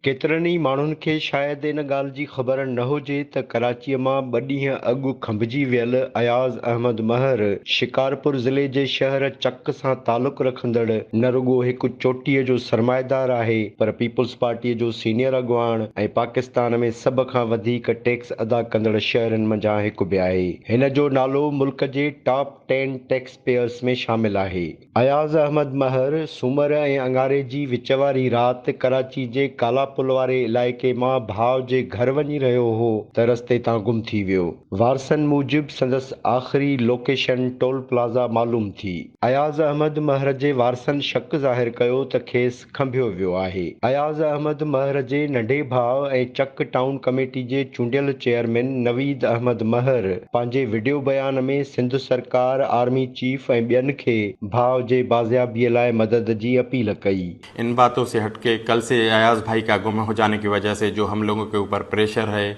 ڪيترن ئي ماڻهن کي شايد ان ڳالهه جي خبر نه هجي ته ڪراچيء مان ٻه ڏينهن اڳ کنڀجي ويل اياز احمد مهر شڪارپور ضلعي جي شهر چڪ سان تعلق رکندڙ نه رڳو هڪ چوٽيء جو سرمائيدار آهي پر پيپلز پارٽيء جو سينيئر اڳواڻ ۽ پاڪستان ۾ سڀ کان وڌيڪ ٽيڪس ادا ڪندڙ شهرين منجهان هڪ به آهي. هن جو نالو ملڪ جي ٽاپ ٽين ٽيڪس پيئرز ۾ شامل آهي. اياز احمد مهر سومر ۽ اڱاري جي وچ واري رات ڪراچي جي ڪالا پل واري علائقي مان ڀاء جي گهر وڃي رهيو هو ته رستي تان گم ٿي ويو. وارثن موجب سندس آخري لوڪيشن ٽول پلازا معلوم ٿي. اياز احمد مهر جي وارثن شڪ ظاهر ڪيو ته کيس کنڀيو ويو آهي. اياز احمد مهر جي ننڍي ڀاء ۽ چڪ ٽائون ڪميٽي جي چونڊيل چيئرمين نويد احمد مهر پنهنجي وڊيو بيان ۾ سنڌ سرڪار، آرمي چيف ۽ ٻين کي ڀاء جي بازيابي لاء مدد جي اپيل ڪئي. ان باتون سي هٽ ڪي ڪل سي اياز ڀائي ڪا گم هو جاني ڪي وجه سي جو هم لوگون ڪي اوپر پريشر هي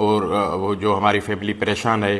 اور جو هماري فيملي پريشان هي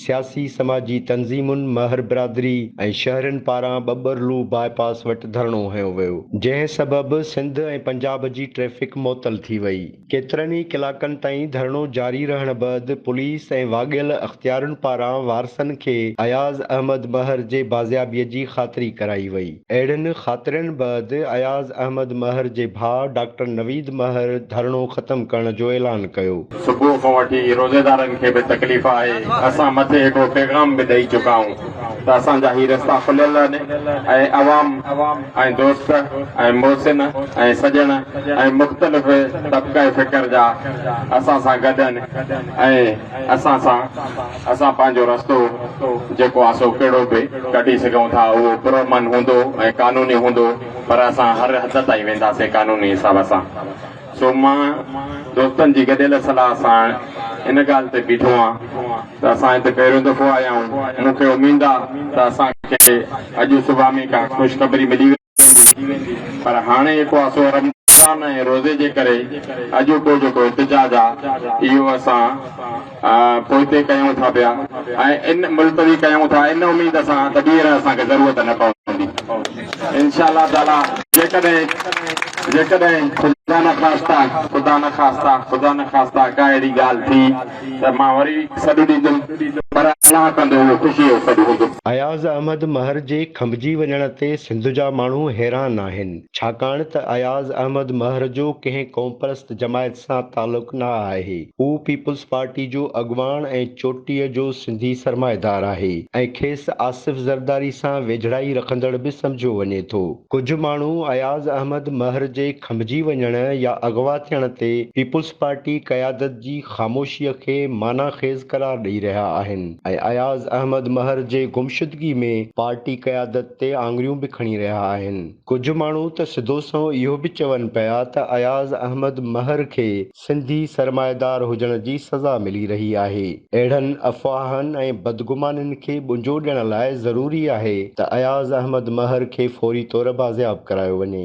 سياسي سماجي تنظيمن، مهر برادري ۽ شهرين پاران ٻٻرلو باء پاس وٽ ڌرڻو هنيو ويو، جنهن سبب سنڌ ۽ پنجاب جي ٽريفڪ معطل ٿي وئي. ڪيترن ئي ڪلاڪن تائين ڌرڻو جاري رهڻ بعد پوليس ۽ واڳيل اختيارين پاران وارثن کي اياز احمد مهر جي بازيابي جي خاطري ڪرائي وئي. اهڙين خاطرين بعد اياز احمد مهر جي ڀاء ڊاڪٽر نويد مهر ڌرڻو ختم ڪرڻ جو اعلان ڪيو. صبح کان وٺي روزيدارن کي به تڪليف آهي، اسان مٿي هڪڙو پيغام به ڏئي چڪا آهيون ته اسان جا هي رستا کليل آهن ۽ عوام ۽ دوست ۽ محسن ۽ سڄڻ ۽ مختلف طبقه فڪر جا اسان سان گڏ آهن ۽ اسان سان اسان پنهنجو رستو جيڪو آهي سو ڪهڙو به ڪڍي سگهون ٿا اهو پرامن هوندو ۽ قانوني هوندو پر اسان هر حد تائين وينداسين قانوني حساب سان سو مان دوستن جي گڏيل صلاح سان ان ڳالهه تي بيٺو آهيان ته اسان هتي پهريون دفعو آيا آهيون مون کي اميد آهي ته اسان کي اڄ صبح ۾ ڪا خوشخبري ملي پر هاڻي جيڪو آسو رمضان ۽ روزي جي ڪري اڄوڪو جيڪو احتجاج آ اهو اسان پوئتي ڪيون ٿا پيا ۽ ان ملتوي ڪيون ٿا ان اميد سان ته ٻيهر اسان کي ضرورت نه پوندي انشاء الله تعالي جيڪڏهن جيڪڏهن خدا نخواسته خدا نخواسته خدا نخواسته ڪا اهڙي ڳالهه ٿي ته مان وري سڏ ڏيندم، پر الله ڪندو اهو خوشيء جو سڏ هوندو. اياز احمد مهر جي کنڀجي وڃڻ تي سنڌ جا ماڻهو حيران آهن، ڇاڪاڻ ته اياز احمد مهر جو ڪنهن قومپرست جماعت سان تعلق نه آهي، هو پيپلز پارٽي جو اڳواڻ ۽ چوٽيء جو سنڌي سرمائيدار آهي ۽ کيس آصف زرداري سان ويجهڙائي رکندڙ به سمجهيو وڃي ٿو. ڪجهه ماڻهو اياز احمد مهر جي کنڀجي وڃڻ يا اغوا ٿيڻ تي پيپلز پارٽي قيادت جي خاموشيء کي معنيٰ خيز قرار ڏئي رهيا آهن ۽ اياز احمد مهر جي گمشدگي ۾ پارٽي قيادت تي آڱريون به کڻي رهيا آهن. ڪجهه ماڻهو ته سڌو سنئون اهو به چون پيا ته اياز احمد مهر کي سنڌي سرمائيدار هجڻ جي سزا ملي رهي آهي. اهڙن افواهن ۽ بدگمانين کي ٻنجو ڏيڻ لاء ضروري آهي ته اياز احمد مهر کي فوري طور بازياب ڪرايو وڃي.